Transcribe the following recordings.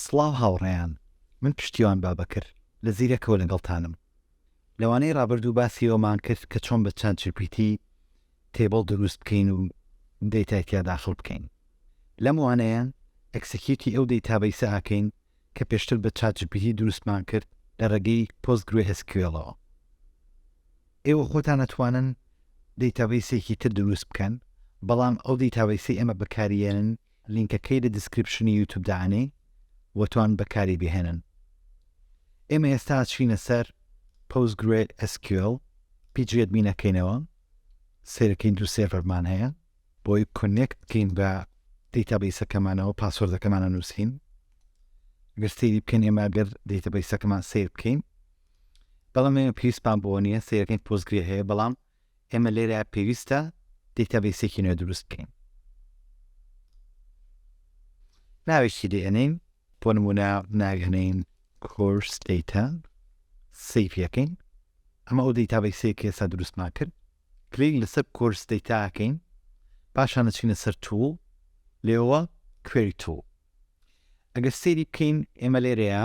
سڵاو هاوڕێیان من پشتیوان بابەکر لە زیرەکەوە لەگەڵتانم لەوانەی ڕابردوو باسی ئەوەمان کرد کە چۆن بە چات جی پی تی تێبڵ دروست بکەین و دەیتای تیا داخڵ بکەین لەم وانەیە ئەکسکیوتی ئەو دەیتا بەیسە ئاکەین کە پێشتر بە چات جی پی تی دروستمان کرد لە ڕێگەی پۆست گرێ ئێس کیوێڵەوە ئێوە خۆتان ئەتوانن دەیتا بەیسێکی تر دروست بکەن بەڵام ئەو دەیتا بەیسەی ئێمە بەکاریێنن لینکەکەی لە دیسکریپشنی یوتوب دانێی و توان بەکاری بهێنن ئێمە ئێستا چینە سەر پۆست گرێ ئێس کیۆل پیجی ئەدمین ئەکەینەوە سێرەکەین دوو سێرڤەرمان هەیە بۆی کۆنێکت بکەین بە دەیتابیسەکەمانەوە پاسۆردەکەمانە نووسین گەر سەیری بکەین ئێمە گەر دەیتەبیسەکەمان سیر بکەین بەڵام ئێمە پێویستمان بۆ نییە سیرەکەین پۆزگری هەیە بەڵام ئێمە لێرە پێویستە دەیتابەیسێکی نوێ دروست بکەین ناوێکی دێنین بۆ نمونە ناوێنین کۆرس دەیتا سیفەکەین ئەمە ئەو دەیتابەیسەیە کە ئێستا دروستمان کرد کلیک لەسەر کۆرس دەیتاکەین پاشان دەچینە سەر توو لێەوە کوێری توو ئەگەر سێری بکەین ئێمە لێرەیە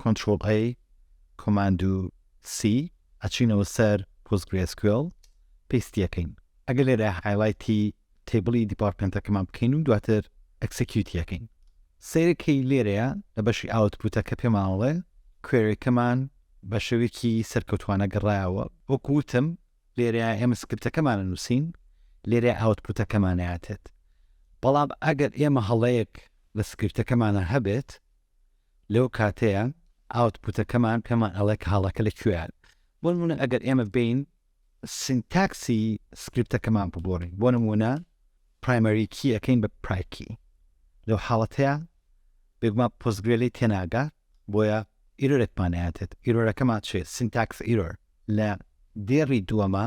Ctrl A، Command و C ئەچینەوە سەر PostgreSQL پێستی ئەکەین ئەگەر لێرە هایڵایتی تەیبڵی دیپارتمێنتەکەمان بکەین و دواتر ئەکسکیوتی ئەکەین سەیرەکەی لێرەیە لە بەشی ئاوتپوتەکە پێمان ئەڵێ کوێریەکەمان بە شێوەیەکی سەرکەوتوانە گەڕایەوە وەکو وتم لێرە ئێمە سکرپتەکەمان نووسین لێرە ئاوتپوتەکەمان هاتێت بەڵام ئەگەر ئێمە هەڵەیەک لە سکرپتەکەمانە هەبێت لەو کاتەیە ئاوتپوتەکەمان پێمان ئەڵێ کە هەڵەکە لە کوێیە. بۆ نموونە ئەگەر ئێمە بێین سینتاکسی سکریپتەکەمان بگۆڕین، بۆ نموونە پرایمەری کی ئەکەین بە پرای کی، لەو حاڵەتەیە بێگومان پۆستگرێ لێی تێناگا، بۆیە ئیرۆرێکمان ئەیاتێت. ئیرۆرەکەمان چییە؟ سینتاکس ئیرۆر. لە دێڕی دووەما،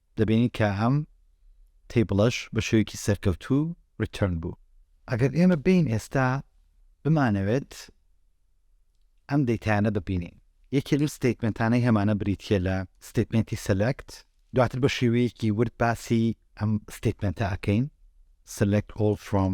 دەبینین کە ئەم تەیبڵەش بە شێوەیەکی سەرکەوتوو ڕیتۆرن بوو. ئەگەر ئێمە بێین ئێستا بمانەوێت ئەم دەیتایانە ببینین، یەکێ لەو ستەیتمێنتانەی هەمانە بریتییە لە ستەیتمێنتی سەلەکت، دواتر بە شێوەیەکی ورد باسی ئەم ستەیتمێنتە ئەکەین، سەلەکت ئۆڵ فرۆم.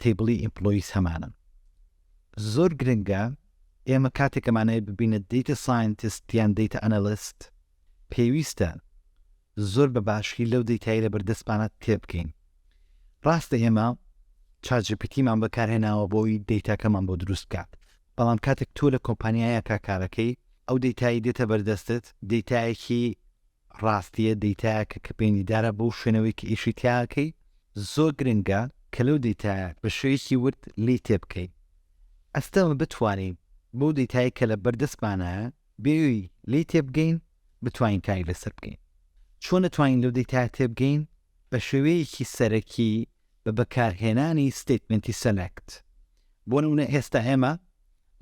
تەیبڵی ئیمپڵۆییس هەمانن. زۆر گرنگە ئێمە کاتێک ئەمانەی ببینە دەیتە ساینتست یان دەیتە ئەنالیست پێویستە زۆر بە باشی لەو دەیتای لە بەردەستمانە تێبگەین. ڕاستە ئێمە چات جی پی تیمان بەکارهێناوە بۆی دەیتاکەمان بۆ دروست بکات. بەڵام کاتێک تۆ لە کۆمپانیایەکە کارەکەی ئەو دەیتایی دێتە بەردەستت دەیتایەکی ڕاستیە دەیتایەکە کە پەیندیدارە بەو شوێنەوەی کە ئیشی تیا ئەکەی، زۆر گرنگە کە لەو دەیتایە بە شێوەیەکی ورد لێی تێبکەین. ئەستەمە بتوانین بەو دەیتایەی کە لە بەر دەستمانایە بێوی لێی تێبگەین بتوانین کاری لەسەر بکەین. چۆن ئەتوانین لەو دەیتایە تێبگەین؟ بە شێوەیەکی سەرەکی بە بەکارهێنانی ستەیتمێنتی سەلەکت. بۆ نموونە ئێستا ئێمە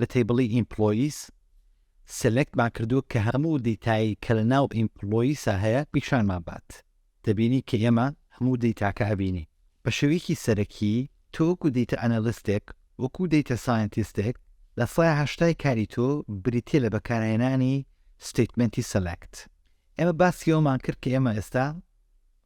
لە تەیبڵی ئیمپڵۆییس سەلەکتمان کردووە کە هەموو دەیتای کە لە ناو ئیمپڵۆییسا هەیە پیشانمان بات. دەبینی کە ئێمە هەموو دەیتاکە ئەبینین. بە شێوەیەکی سەرەکی تۆ وەکو دەیتا ئەنالیستێک، وەکو دەیتا سایەنتیستێک لە سەدا هەشتای کاری تۆ بریتییە لە بەکارهێنانی ستەیتمێنتی سەلەکت. ئێمە باسی ئەوەمان کرد کە ئێمە ئێستا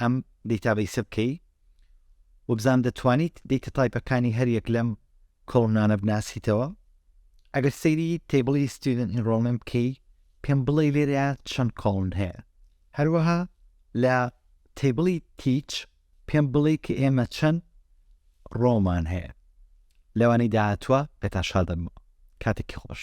ئەم دەیتابەیسە بکەی و بزان دەتوانیت دەیتە تایپەکانی هەر یەک لەم کۆڵمنانە بناسیتەوە ئەگەر سەیری تەیبڵی ستیودنت ئینڕۆڵمێنت بکەی پێم بڵێ لێرە چەند کۆڵن هەیە هەروەها لە تەیبڵی تیچ پێم بڵێ کە ئێمە چەند ڕۆمان هەیە لەوانەی داهاتوە پێتان شادەمەوە کاتێکی خۆش.